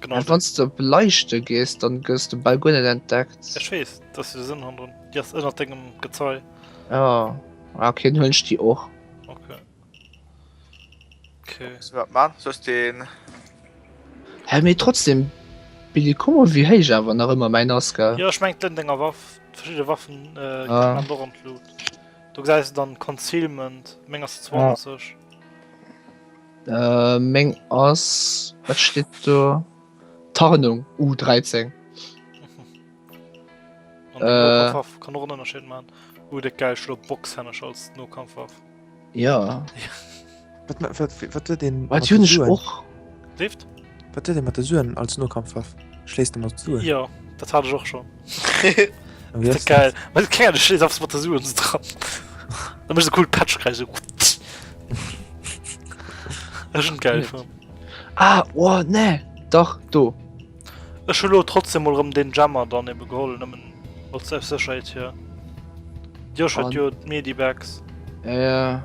Genau. An wann du op Leiichte gees, dann gëss du bei guer net entdeckt. Ech wees, dat du de Sënn han drun. Di ass ënnert dengem Gezei. Ja. Ah, okay, dann huelen ech di och. Okay. Okay. Muss wat man, soss den. Hä, mee trotzdem, Billy, kuck mol, wéi héich awer nach ëmmer mäin ass, gell? Jo, ech meng d'Lënn denger Waff, verschidde Waffen äh, Ah. ah. do an d'Lut. Du gesäis dann Concealment, meng ass 20. Äh meng ass wat steet do Tarnung U13. An den Äh. Nokafwaff kann och en Ënnerscheed man. Uh déck gäil Schlo Boxhännesch als Nokampfwaff. Ja. Wat ma wat wat huet een Wat mat hunn ech Blessuren? och. Lift? Wat huet ee mat de Suen als Nokampfwaff? Schléisst ee mat Suen? Jo, dat hat ech och schonn. An wéi ass dat? Geil. Well et kengert, ech schléiss einfach mat de Suen esou dran. Dann mécht e cool Patsch kräisch esou. Ech hunn geil fonnt. Ah, oh nee, dach, do. Ech hu lo trotzdem mol rëm deen Jammer dann ebe geholl, nëmmen als aus Sécherheet hier. D'Josh huet An- jo d'Medibags. Ja, ja.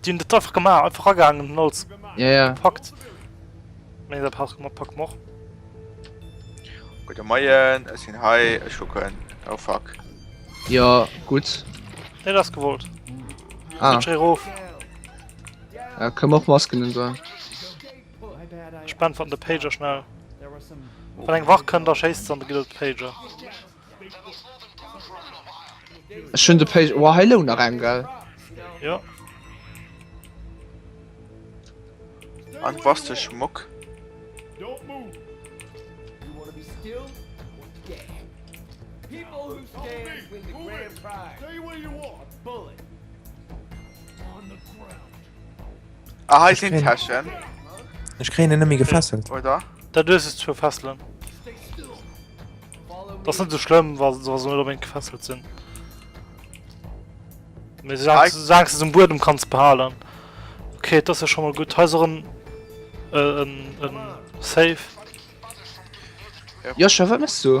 Déi hunn dat einfach gemaach, einfach agaangen hunn alles gepackt. Mee dat pack mer, pack mer. Gudde Moien, ech sinn hei, ech kucken. Oh fuck. Jo, gutt. Nee, dat ass gewollt. Ah. Rutsch erof. Ja, kënne mer och Masken un soen. Ech beäntwerten de Pager schnell. Wann eng Wach kënnt, da schéisst se an da gëtt et de Pager. Ech hun de Page. Wow, hei loung nach eng, gell? Jo. An was de Schmock? Ah, hei sinn Täschen. Ech kréien en nëmme gefesselt. Oder? Da dues es zu fesselen. Das net so schlimm, wa se net unbedingt gefesselt sinn. Mir sagst es um Buedem kanns behalen. Okay, das ist ja schon mal gut. Heiser en äh, en, en Safe. Ja, schon, wat machst du?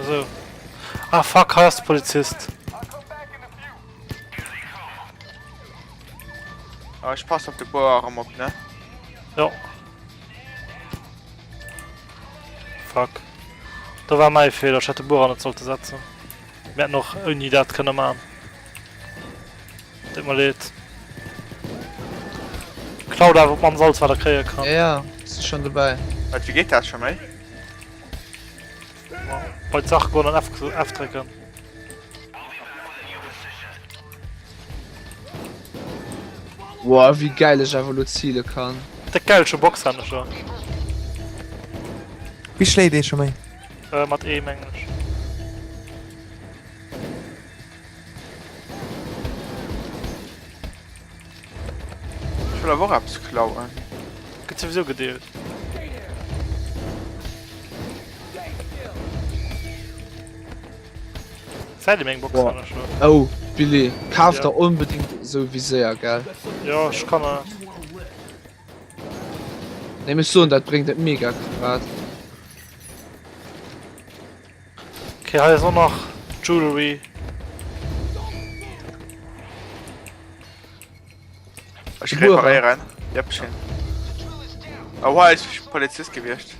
Esou. Ah fuck, hei ass de Polizist. Ah, ech pass op de Bouw erem op, ne? Jo. Fuck. Do war mei Fehler, ech hätt de Bouw an net sollte setzen. Mir hätten och ouni dat kënne man. Deet mer leed. Klaut awer op mann's alles wat der kréie kann. Ja, ja, si schon dobäi. Wat, wéi geet dat schon mei? Bei Zach go an F drécken. Wow, wie geil ech awer lo ziele kann. De gelsche Box han schon. Wie schléit ee scho méi? Äh, mat ee mengg. Ech wëll awer och eppes klauen. Gëtt souwisou gedeelt. Zäit em eng Box Boah. hanner scho. Oh, Billy, kaf Ja. der onbedingt esou Viséier, gell? Jo, ech kann e. Nee, mech soen, dat bréngt et mega grad. Ok hei ass och nach Jewelry. Ech reparéieren. Yep ech hin. Oh hei ass Polizist gewiescht.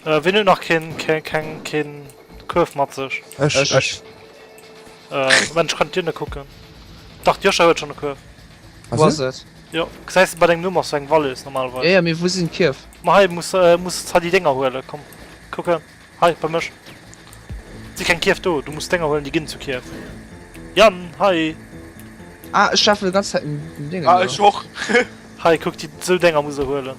Äh wien huet nach keen keng keen Kuerf mat sech? Ech. Ech. Äh Moment ech kann d'Dierne kucken. Dach d'Joscha huet schonn e Kuerf. Wou ass et? Jo, gesäis de bei dengem Numm ass do eng Walös normalerweis. Jo, jo, mee wou sinn d'Kierf? Ma hei muss, muss s hei déi Dénger huelen. Komm, kuck hei, hei bei mech. Et si keng Kierf do, du muss d'Dénger huelen, déi ginn zu Kierf. Yann, hei! Ah, ech lafen déi ganz Zäit un den Dénger. Ah, ech och! Hei, kuck, déi, sou Dénger muss e huelen.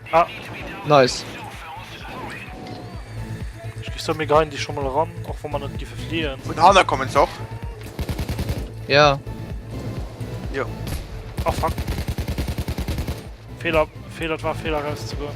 Ah, nice. Ech gi sou mega ein déi scho mol ran, och wann mer net giffe fliehen. Vun hanner kommen se och. Ja. Jo. Ah fuck. Fehler, Fehler, et war Fehler rauszegoen.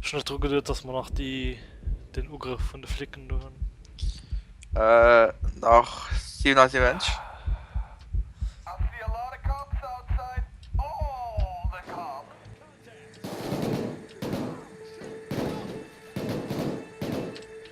Schon net dru geduet, dass man nach die den Ugrëff vun de Flicken do hunn. Äh, nach 77.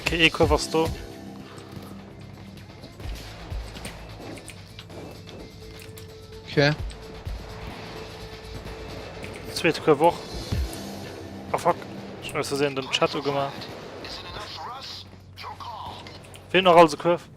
Okay, ee Kuerf ass do. Okay. Zweet Kuerf och. Ah fuck, ich muss gesehen den Chat gemacht. Fehlt noch alles Kurve.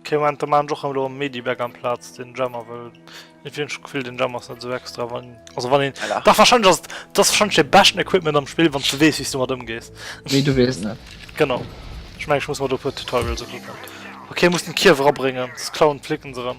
Okay, Moment, da machen Jochen lo Mediback am Platz den Jammer, weil ich finde schon Gefühl, den Jammer ist nicht so extra, wann, also wann ihn, ja. doch wahrscheinlich ist das wahrscheinlich der besten Equipment am Spiel, wenn du weißt, wie du mit umgehst. Wie du weißt, ne? Genau. Ich meine, ich muss mal da ein Tutorial so gucken. Okay, muss den Kiefer abbringen, das klauen, flicken sie ran.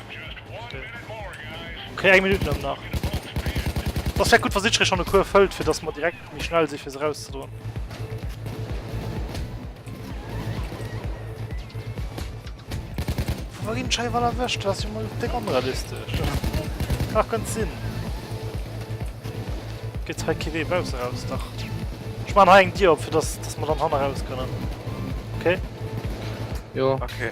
Okay, eng Minutt dann nach. Das wäre gut, was ich schon eine Kur füllt, für das man direkt mich schnell sich für rauszudrohen. Wohin schei war erwischt, dass ich mal dick unrealistisch. Ach, ganz Sinn. Geht's halt Kiwi raus, raus, doch. Ich mache einen Diop, für das, dass man dann Hanna raus können. Okay? Ja. Okay.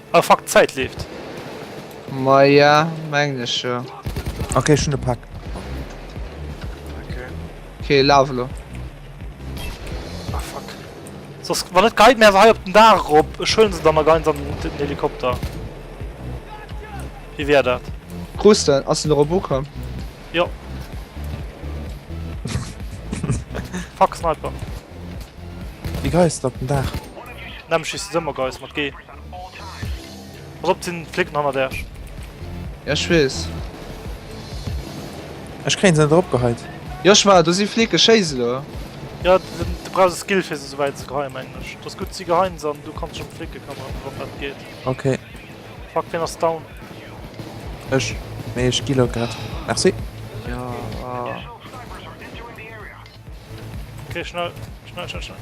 Ah fuck, d'Zäit leeft. Maja, mengen ech jo. Ok, ech hunn e Pak. Ok, laf elo. Ah fuck. Soss, wann net geit mir awer hei op den Daach erop. Ech huelen se dann a geien se an den Helikopter. Wéi wär dat? Krusten, ass en erop ukomm? Jo. Fuck, Sniper. Déi Geis op den Daach. Nämm, schiessen se ëmmer Geis mat G. Pass op, et sinn Flicken hannert äerch. Ja ech wees. Ech kréien se net erop geheit. Joshua do si Flicken, schéi se do. Jo du brauchs e Skill fir se souwäit ze geheien mengen ech. Et ass gutt si geheien se an du kanns sech ëm d'Flicken këmmeren wann dat geet. Ok. Fuck wien ass down? Ech, mee ech geload grad. Merci. Jo oh. Ok schnell schnell schnell schnell.